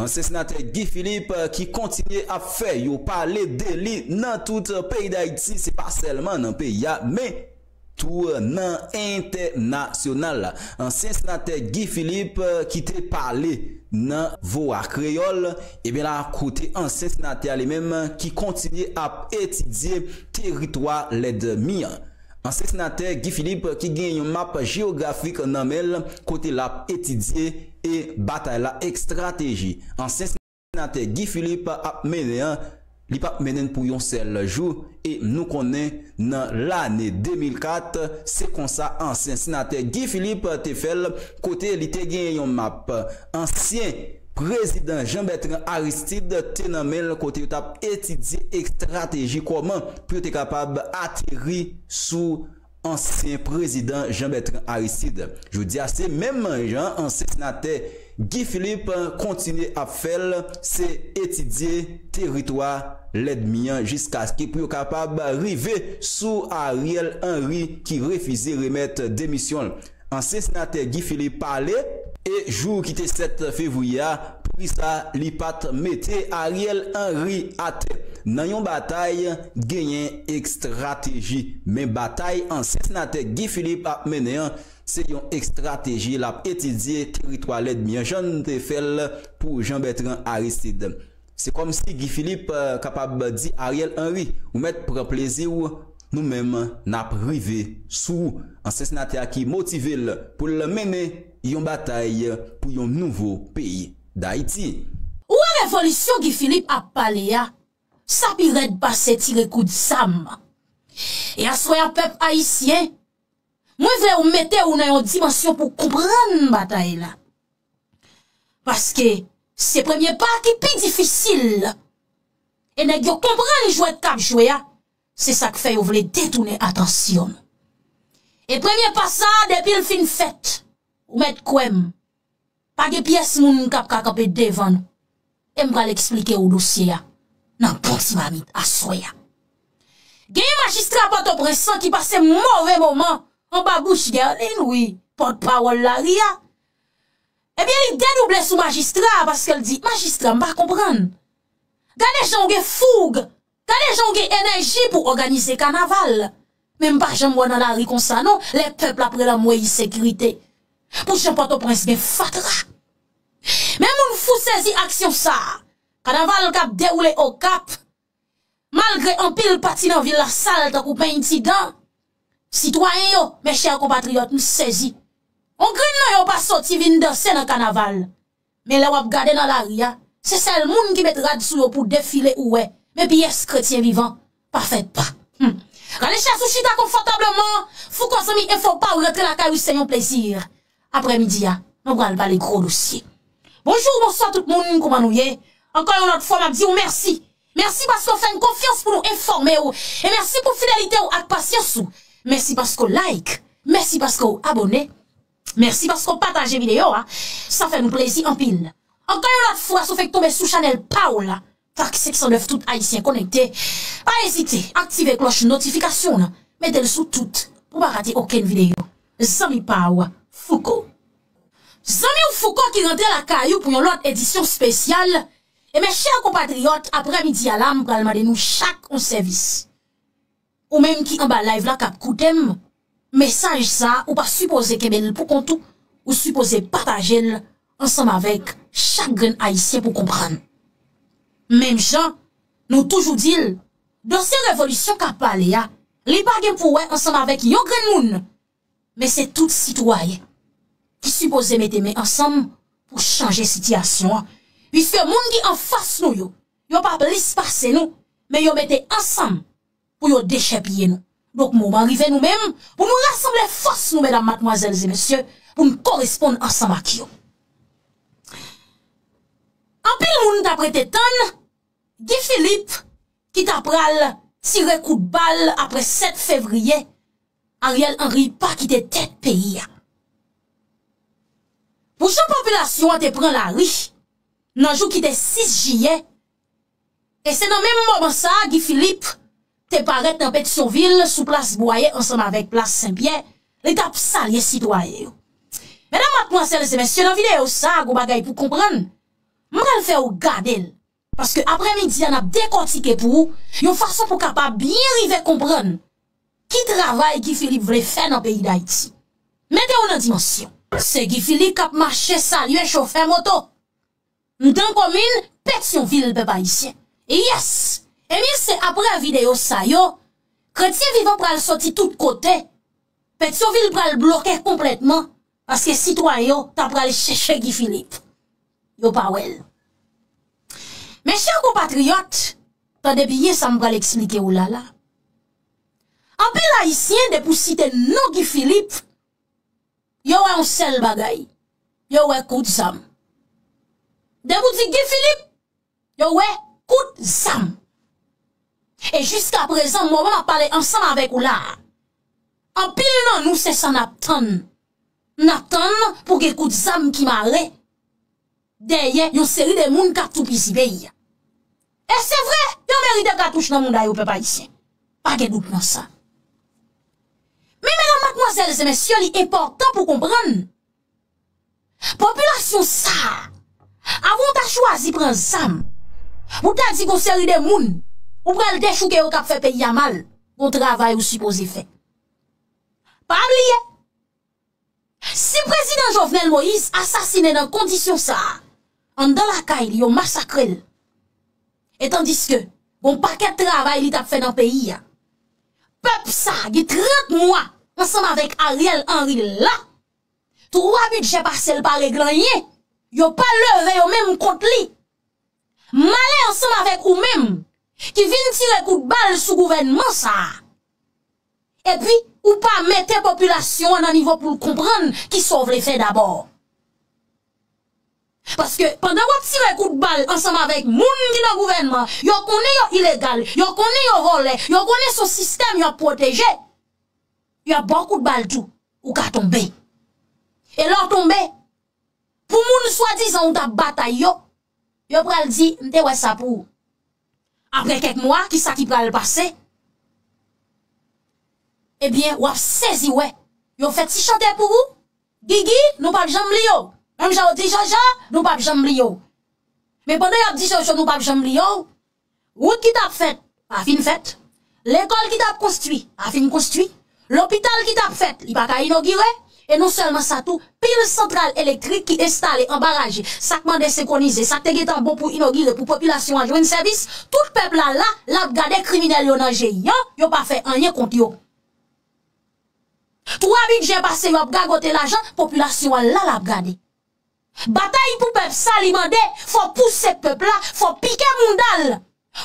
Ansyen senatè Guy Philippe ki kontinye ap fè yo pale deli nan tout peyi Dayiti se pa sèlman nan peyi a men Tour nan entènasyonal la, ansyen senatè Guy Philippe ki te pale nan voa Kreyòl, ebyen la kote ansyen senatè a li menm ki kontinye ap etidye teritwa lèdmi an. Ansyen senatè Guy Philippe ki gen yon map jeyografik nan men l kote l ap etidye e batay la estrateji. Ansyen. Senatè Guy Philippe ap mennen an, li pap mennen pou yon sèl jou e nou konnen nan lane 2004 se konsa ansyen senatè Guy Philippe te fè l kote li te genyen yon map ansyen prezidan Jean Bertrand Aristide te nan men l kote yo t ap etidye estrateji kòman pou yo te kapab ateri sou ansyen prezidan Jean Bertrand Aristide. Jodi a se menm jan ansyen senatè Guy Philippe kontinye ap fè l, se etidye teritwa lèdmi an jiskaske pou yo kapab rive sou Ariel Henry ki refize remèt demisyon l. Ansyen senatè Guy Philippe pale. E jou ki te 7 fevriye a, poukisa li pat mete Ariel Henry atè? Nan yon batay, genyen ekstrateji. Men batay ansyen senatè Guy Philippe ap mennen an, se yon ekstrateji lap etidye teritwa lèdmi an jan n te fè l pou Jean Bertrand Aristide. Se kòmsi Guy Philippe kapab di Ariel Henry, ou mèt pran plezi w, nou menm n ap rive sou ou. Ansyen senatè a ki motive l pou l mennen yon batay pou yon nouvo peyi Dayiti. Ou wè revolisyon Guy Philippe ap pale a, sa pi rèd pase tire kout zam. E aswè a pèp ayisyen, mwen vle ou mete ou nan yon dimansyon pou w konprann batay la. Paske, se premye pa ki pi difisil la. E nèg yo konprann jwèt k ap jwe a, se sa k fè yo vle detounen atansyon nou. E premye pa sa a, depi l fin fèt, ou mèt kwè m, pa gen pyès moun k ap ka kanpe devan nou. E m pral esplike ou dosye a nan bon ti mamit aswè a. Genyen majistra Pòtoprens lan ki pase move moman anba bouch Guerline, wi, pòtpawòl lari a. Ebyen li dedouble sou majistra a paske l di, Majistra, m pa konprann. Gade jan w gen foug, gade jan w gen enèji pou òganize kanaval. Men m pa janm wè w nan lari konsa non, lè pèp la ap rele anmwey ensekirite. Pou jan Pòtoprens gen fatra. Men moun fou sezi aksyon sa a. Kanaval k ap dewoule Okap. Malgre anpil pati nan vil la sal tankou peny ti dan, sitwayen yo, mes chers compatriotes, m sezi. On grenn nan yo pa soti vin danse nan kanaval. Men lè w ap gade nan lari a, se sèl moun ki met rad sou yo pou defile ou wè, men pyès kretyen vivan pa fèt pa. Hum! Rale chèz ou chita konfòtableman, Fouco zanmi enfo pa ou rantre lakay ou se yon plezi. aprè midi a mwen pral pale gro dosye. Bonjour bonswa tout moun kouman nou ye ankò yon lòt fwa map diw mèsi mèsi paske ou fèn konfyans pou nou enfòmew e mèsi pou fidelitew ak pasyans ou mèsi paske ou like mèsi paske ou abòne mèsi paske ou pataje video a sa fè nou plezi anpil ankò yon lòt fwa sou fèk tonbe sou chanèl paw la Track 509 tout ayisyen konekte pa ezite aktive klòch notifikasyon nan metel sou tout pou pa rate okenn videyo zanmi paw fouco. Zanmiw Fouco ki rantre lakay ou pou yon lòt edisyon spesyal e mes chers compatriotes aprè midi a la m pral mande nou chak yon sèvis. Ou menm ki anba live la kap koutem mesaj sa ou pa sipoze kenbel pou kont ou ou sipoze patajel ansanm avek chak grenn ayisyen pou konprann menm jan nou toujou dil dosye revolisyon kap pale ya li pa gen pou wè ansanm avek yon grenn moun men se tout sitwayen ki sipoze mete men ansanm pou chanje sitiyasyon piske moun ki anfas nou yo Yo pa plis pase nou, men yo mete ansanm pou yo dechèpiye nou. Donk moman rive nou menm pou nou rasanble fòs nou medam matmwazèl e mesye pou n koresponn ansanm ak yo. Anpil moun tap rete tann Guy Philippe ki ta pral tire kout bal apre 7 fevriye, Ariel Henry pa kite tèt peyi a. Pou jan popilasyon an te pran lari, nan jou ki te 6 jiyè, e se nan menm moman sa a Guy Philippe te parèt nan Petyonvil sou plas Bwaye ansanm avèk plas Sen Pyè, li t ap salye sitwayen yo. Medam, matmwazèl e mesye, nan videyo sa a gon bagay pou konprann, m pral fè ou gade l, paske aprè midi a n ap dekòtike pou ou yon fason pou w kapab byen rive konprann. Ki travay Guy Philippe vle fè nan peyi Dayiti? Mete w nan dimansyon. Se Guy Philippe k ap mache salye chofè moto m dan komin Petyonvil pèp ayisyen. Yes! Ebyen se aprè videyo sa yo kretyen vivan pral soti tout kote, Petyonvil pral bloke konplètman Paske sitwayen yo ta pral chèche Guy Philippe. Yo pa wè l. Men chè konpatriyòt, tande byen sa m pral eksplike ou la la. Anpil Ayisyen depi w site non Guy Philippe, yo wè yon sèl bagay. Yo wè kout zam. Depi w di Guy Philippe, Yo wè kout zam. E jiska prezan moman map pale ansanm avèk ou la a. Anpil nan nou se sa nap tann. Nap tann pou gen kout zam ki mare. Dèyè yon seri de moun kap toupizi peyi a. E se vre yo merite katouch nan mouda yo pèp ayisyen. Pa gen dout nan sa. Men medam matmwazèl se mesye li enpòtan pou konprann. Popilasyon sa a, avan w ta chwazi pran zam, pou w ta di gon seri de moun, ou pral dechouke yo k ap fè peyi a mal, gon travay ou sipoze fè. Pa bliye, si Prezidan Jovenel Moïse asasinen nan kondisyon sa a, anndan lakay li yo masakre l, etandiske gon pakèt travay li t ap fè nan peyi a, pèp sa a gen 30 mwa ansanm avèk Ariel Henry la, 3 bidjè pase l pa regle anyen, yo pa leve yo menm kont li. Male ansanm avèk ou menm ki vin tire kout bal sou gouvènman sa a. Epi ou pa mete popilasyon an nan nivo pou l konprann ki sa w vle fè dabò. Paske pandan w ap tire kout bal ansanm avèk moun ki nan gouvènman, yo konnen yo ilegal, yo konnen yo vòlè, yo konnen son sistèm y ap pwoteje, y ap ba w kout bal tou. Ou ka tonbe. E lè w tonbe, pou moun swadizan ou t ap batay yo, yo pral di, m te wè sa pou ou. Apre kèk mwa, ki sa ki pral pase? Ebyen, w ap sezi wè, yo fè ti chante pou ou, Gigi, nou p ap janm bliye w. Menm jan yo di Jojo, nou p ap janm bliye w. Men pandan y ap di Jojo nou p ap janm bliye w, Wout ki tap fèt, pa fin fèt. Lekòl ki tap konstwi, pa fin konstwi. Lopital ki tap fèt, li pa ka inogire. E non sèlman sa tou, pil santral elektrik ki enstale anba raje, sa k mande senkonize, sa k te gentan bon pou inogire pou popilasyon an jwenn sèvis, tout pèp la la, l ap gade kriminèl yo nan je yan, yo pa fè anyen kont yo. Twa bidjè pase yo ap gagote lajan, popilasyon an la, l ap gade. Batay pou pèp sa li mande fò pouse pèp la, fò pike mounda l,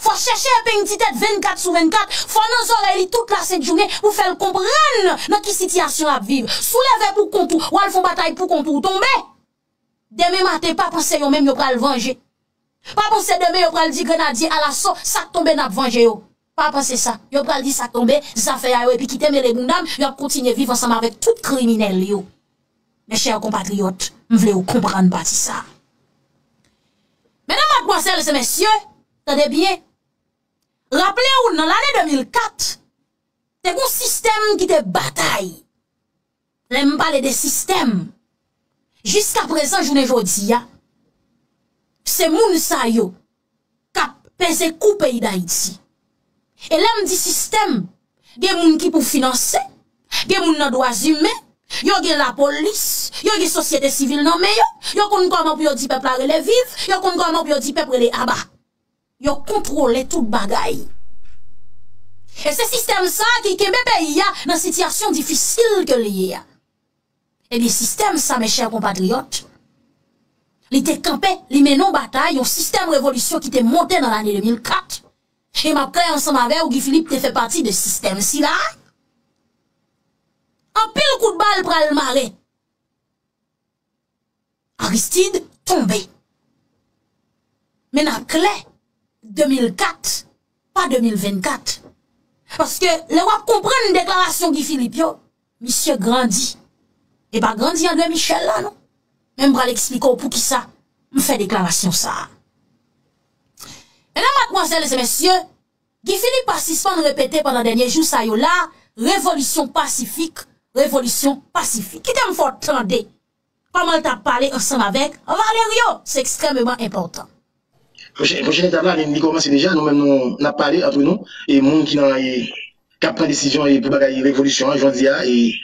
fò chèche epeng ti tèt 24 sou 24, fò nan zòrèy li tout la sent jounen pou fè l konprann nan ki sitiyasyon l ap viv. Si w leve pou kont ou, w al fon batay pou kont ou, w tonbe! Demen maten pa panse yo menm yo pral vanje. Pa panse demen yo pral di grenadye alaso sa k tonbe n ap vanje yo. Pa panse sa, yo pral di sa tonbe, zafè a yo epi kite mele bounda m, yo ap kontinye viv ansanm avèk tout kriminèl yo. Mes chers compatriotes, m vle ou konprann pati sa. Medam, madmwazèl e mesye, tande byen, raple ou nan lane 2004, te gon sistèm ki te batay. Lè m pale de sistèm, jiska prezan jounen jodi a, se moun sa yo k ap peze kou peyi Dayiti. E lè m di sistèm, gen moun ki pou finanse, gen moun nan dwazimen, yo gen lapolis, yo gen sosyete sivil nan men yo, yo konn kòman pou yo di pèp la rele viv, yo konn kòman pou yo di pèp rele aba. Yo kontwole tout bagay. E se sistèm sa ki kenbe peyi a nan sitiyasyon difisil ke li ye a. Ebyen sistèm sa mè chè konpatriyòt, li te kanpe, li mennen yon batay, yon sistèm revolisyon ki te monte nan lane 2004, e map klè ansanm avè ou Guy Philippe te fè pati de sistèm si la, anpil kout bal pral mare. Aristide tonbe. Men nap klè, 2004, pa 2024. Paske lè wap konprann deklarasyon Guy Philippe yo, misye grandi. E pa grandi André Michel la non. Men m pral eksplike w poukisa m fè deklarasyon sa a. Medam, matmwazèl e mesye. Guy Philippe pa sispann repete pandan dènye jou sa yo la, Revolisyon pasifik, revolisyon pasifik. Kite m fè w tande kòman l t ap pale ansanm avèk Valerio, se ekstrèmeman enpòtan. Pwochen etap la li kòmanse deja, nou menm nou n ap pale antre nou e moun ki nan e k ap pran desizyon e pou bagay revolisyon an jòdi a e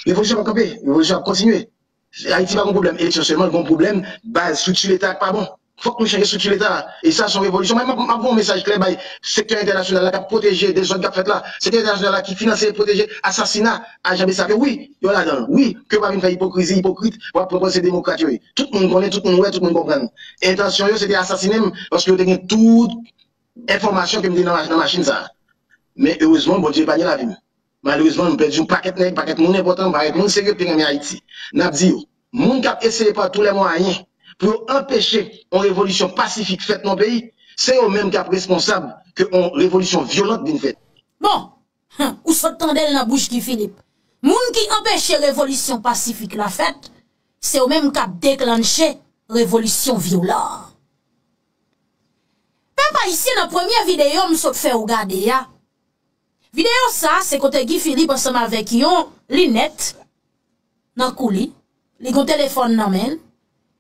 revolisyon p ap kanpe, revolisyon ap kontinye. Ayiti pa gon pwoblèm eleksyon sèlman, l gon pwoblèm baz, strikti leta a k pa bon. Fòk nou chanje strikti leta a. E sa s on revolisyon. Mwen menm m ap voye yon mesaj klè bay sektè entènasyonal la k ap pwoteje dezòd k ap fèt la, sektè entènasyonal la ki finanse e pwoteje asasina ajan Bessap yo. Wi, yo ladan l. Wi, ke yo pa vin fè ipokrizi, ipokrit pou ap pretann se demokrat yo ye. Tout moun konnen, tout moun wè, tout moun konprann. Entansyon yo se te asasinen m paske yo te gen tout enfòmasyon ke m te nan machin sa a. Men erezman, Bondye epanye lavi m. Malerezman, nou pèdi yon pakèt nèg, pakèt moun enpòtan, pakèt moun serye k te renmen Ayiti. N ap di yo, moun k ap eseye pa tou lè mwayen pou yo anpeche yon revolisyon pasifik fèt nan yon peyi, se yo menm k ap responsab ke yon revolisyon vyolant vin fèt. Bon! Humm! Ou sot tande l nan bouch Guy Philippe. Moun ki anpeche revolisyon pasifik la fèt, se yo menm k ap deklanche revolisyon vyolan an. Pèp Ayisyen, nan premye videyo m sot fè ou gade a, Videyo sa se kote Guy Philippe ansanm avèk yon linèt nan kou li, li gon telefòn nan men l,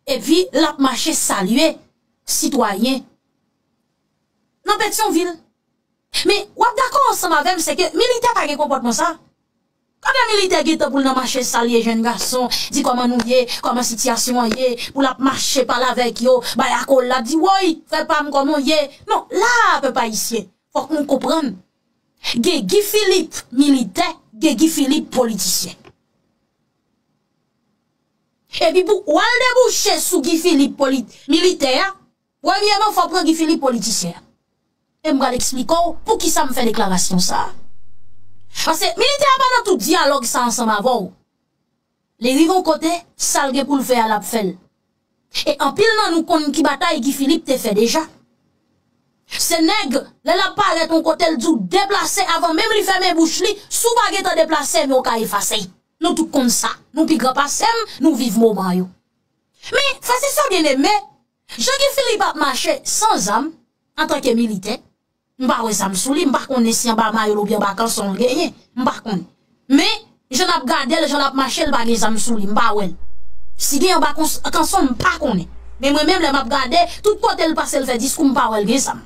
epi l ap mache salye sitwayen nan Petyonvil. Men, w ap dakò ansanm avè m se ke militè pa gen konpòtman sa. Kote militè gentan poul nan mache salye jèn gason, di kòman nou ye, kòman sitiyasyon an ye, poul ap mache pale avèk yo, bay akolad, di woy, frè pam kòman w ye, non, la a pèp ayisyen, fòk nou konprann, gen Guy Philippe militè, gen Guy Philippe politisyen. Epi pou wal debouche sou Guy Philippe militè a. Premyeman fò w pran Guy Philippe politisyen. E m pral eksplike w poukisa m fè deklarasyon sa a. Paske militè a pa nan tout dyalòg sa ansanm avè w. Li rive yon kote, sa l gen pou l fè a l ap fè l. E anpil nan nou konn ki batay Guy Philippe te fè deja. Se nèg lè l ap parèt yon kote l di w deplase avan menm li fèmen bouch li, si w pa gen tan deplase men w ka efase. Nou tout konn sa. Nou pi gran pase m, nou viv moman yo. Men, frè se sè byeneme, Jan Guy Philippe ap mache san zam antanke militè, m pa wè zam sou li, m pa konnen si anba mayo l oubyen anba kanson l genyen, m pa konnen. Men, jan n ap gade l, jan l ap mache l pa gen zam sou li, m pa wè l. Si gen anba kanson l, m pa konnen. Men mwen menm lè m ap gade, tout kote l pase l fè diskou m pa wè l gen zam.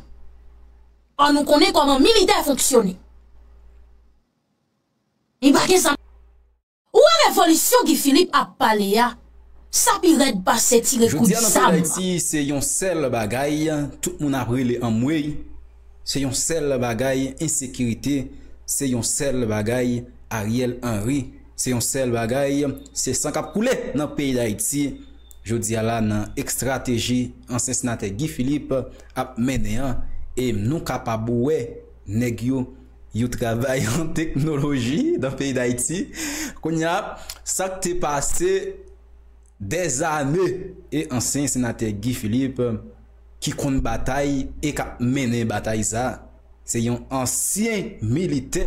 Ò nou konnen kòman militè fonksyone. Li pa gen zam. Ou wè revolisyon Guy Philippe ap pale a, sa pi rèd pase tire kout zam. Jodia nan peyi Dayiti se yon sèl bagay tout moun ap rele anmweyy, se yon sèl bagay ensekirite, se yon sèl bagay Ariel Henry, se yon sèl bagay se san kap koule nan peyi Dayiti jodia la nan ekstrateji ansyen senatè Guy Philippe ap mennen an e nou kapab wè nèg yo Yo travay an teknoloji nan peyi dayiti kounya sak te pase dèzane e ansyen senatè Guy Philippe ki konn batay e kap mennen batay sa se yon ansyen militè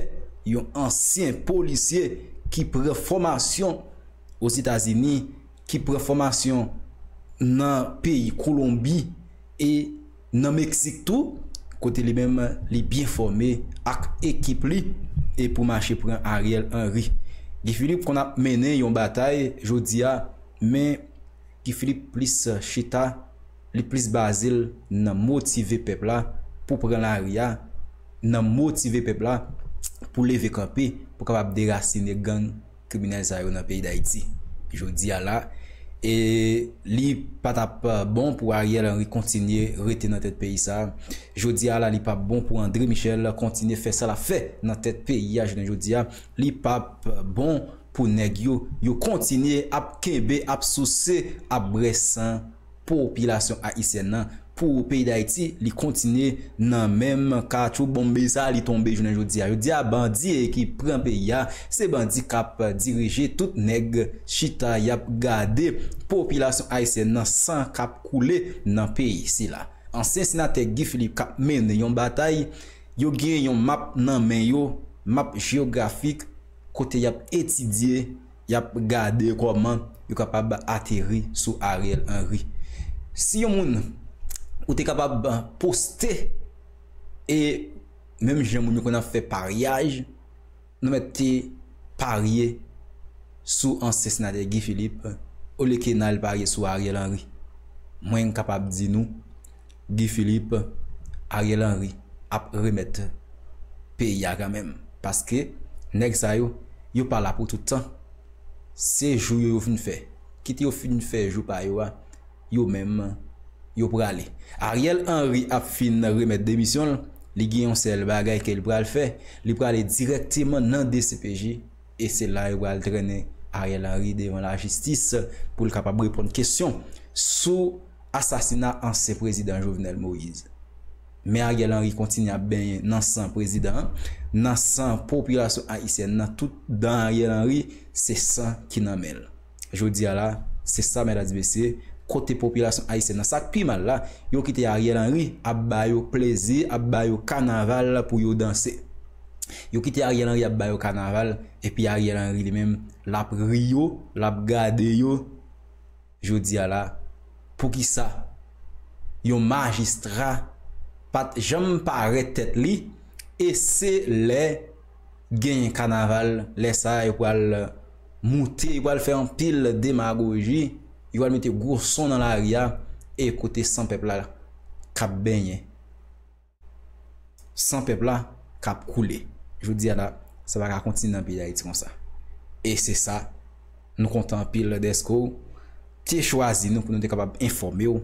yon ansyen polisye ki pran fòmasyon ozetazini ki pran fòmasyon nan peyi kolonbi e Nan Meksik tou, kote li menm li byen fòme ak ekip li e pou mache pran Ariel Henry. Guy Philippe konn ap mennen yon batay jodi a men Guy Philippe plis chita, li plis baze l nan motive pèp la pou pran lari a, nan motive pèp la pou leve kanpe pou kapab derasine gang kriminèl sa yo nan peyi dayiti jodi a la e li pa ta p bon pou Ariel Henry kontinye rete nan tèt peyi sa jodi a la li pa p bon pou André Michel kontinye fè sa l ap fè nan tèt peyi a jounen jodi a li pa p bon pou nèg yo yo kontinye ap kenbe ap souse ap brè san Popilasyon ayisyèn nan pou peyi dayiti li kontinye nan menm katchou bonmbe sa li tonbe jounen jodi a jodi a bandi ki pran peyi a se bandi kap dirije tout nèg chita yap gade popilasyon ayisyèn nan san kap koule nan peyi sila ansyen senatè Guy Philippe kap mennen yon batay yo gen yon map nan men yo map jeyografik kote yap etidye Yap gade kòman yo kapab ateri sou Ariel Henry. Si yon moun ou te kapab poste e menm jan moun yo konn ap fè paryaj nou mèt te parye sou ansyen senatè Guy Philippe olye ke n al parye sou Ariel Henry. Mwen kapab di nou Guy Philippe, Ariel Henry ap remèt peyi a kanmenm paske nèg sa yo, yo pa la pou tout tan. Se jou yo yo vin fè. Kit yo fin fè jou pa yo a, yo menm yo prale. Ariel Henry ap fin remèt demisyon l, li gen yon sèl bagay ke li pral fè, li prale dirèkteman nan dcpj E se la yo pral trennen Ariel Henry devan lajistis pou l kapab reponn kesyon sou asasina ansyen prezidan Jovenel Moise. Men Ariel Henry kontinye ap benyen nan san prezidan an, nan san popilasyon ayisyèn nan, tout dan Ariel Henry se san ki nan men l. Jodi a la, se sa mèt ati mesye, kote popilasyon ayisyèn nan, sak pi mal la, yo kite Ariel Henry ap ba yo plezi, ap ba yo kanaval pou yo danse. Yo kite Ariel Henry ap ba yo kanaval, epi Ariel Henry li menm lap ri yo, lap gade yo. Jodi a la, poukisa yon majistra pat janm pare tèt li e se lè genyen kanaval lè sa yo pral moute yo pral fè anpil demagoji yo pral mete gwo son nan lari a e kote san pèp la kap benyen san pèp la kap koule jodi a la sa pa ka kontinye nan peyi dayiti konsa e se sa Nou kontan anpil dèske w te chwazi nou pou nou te kapab enfòme w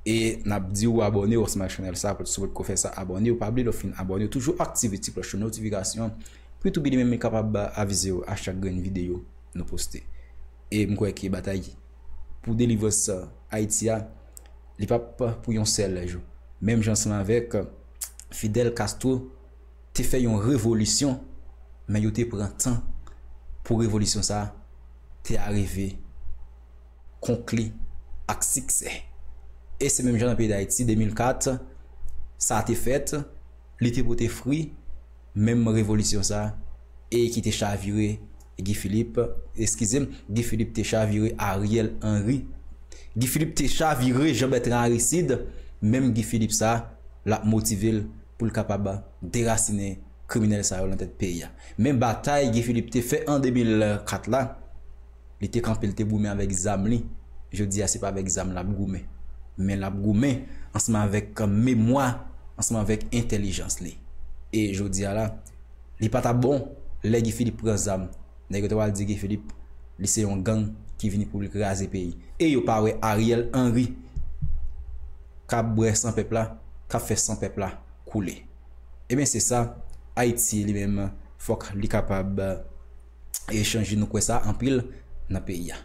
e n ap di w abòne w ansanm ak chanèl sa pou si w potko fè sa abòne w pa bliye lè w fin abòne w toujou aktive ti klòch notifikasyon pou Youtube li menm li kapab avize w a chak grenn videyo nou poste e m kwè ke batay pou delivrans Ayiti a li p ap pou yon sèl jou menm jan ansanm avèk Fidel Castro. te fè yon revolisyon men yo te pran tan pou revolisyon sa te arive konkli ak siksè. E se menm jan nan peyi Dayiti 2004 sa te fèt li te pote fri menm revolisyon sa e ki te chavire Guy Philippe, eskize m, Guy Philippe te chavire Ariel Henry. Guy Philippe te chavire Jean Bertrand Aristide, menm Guy Philippe sa l ap motive l pou l kapab derasinen kriminèl sa yo nan tèt peyi a. Men batay Guy Philippe te fè an 2004 la, li te kanpe l te goumen avèk zam li, jodi a se pa avèk zam l ap goumen. Men l ap goumen ansanm avèk memwa, ansanm avèk entèlijans li. E jodi a la. Li pa ta bon lè Guy Philippe pran zam nèg yo ta pral di Guy Philippe li se yon gang ki vini pou li kraze peyi e yo pa wè Ariel Henry kap bwè san pèp la kap fè san pèp la koule ebyen se sa Ayiti li menm fòk li kapab e chanje nou kwè sa anpil nan peyi a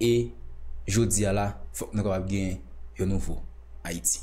e jodi a la fòk nou kapab gen yon nouvo Ayiti.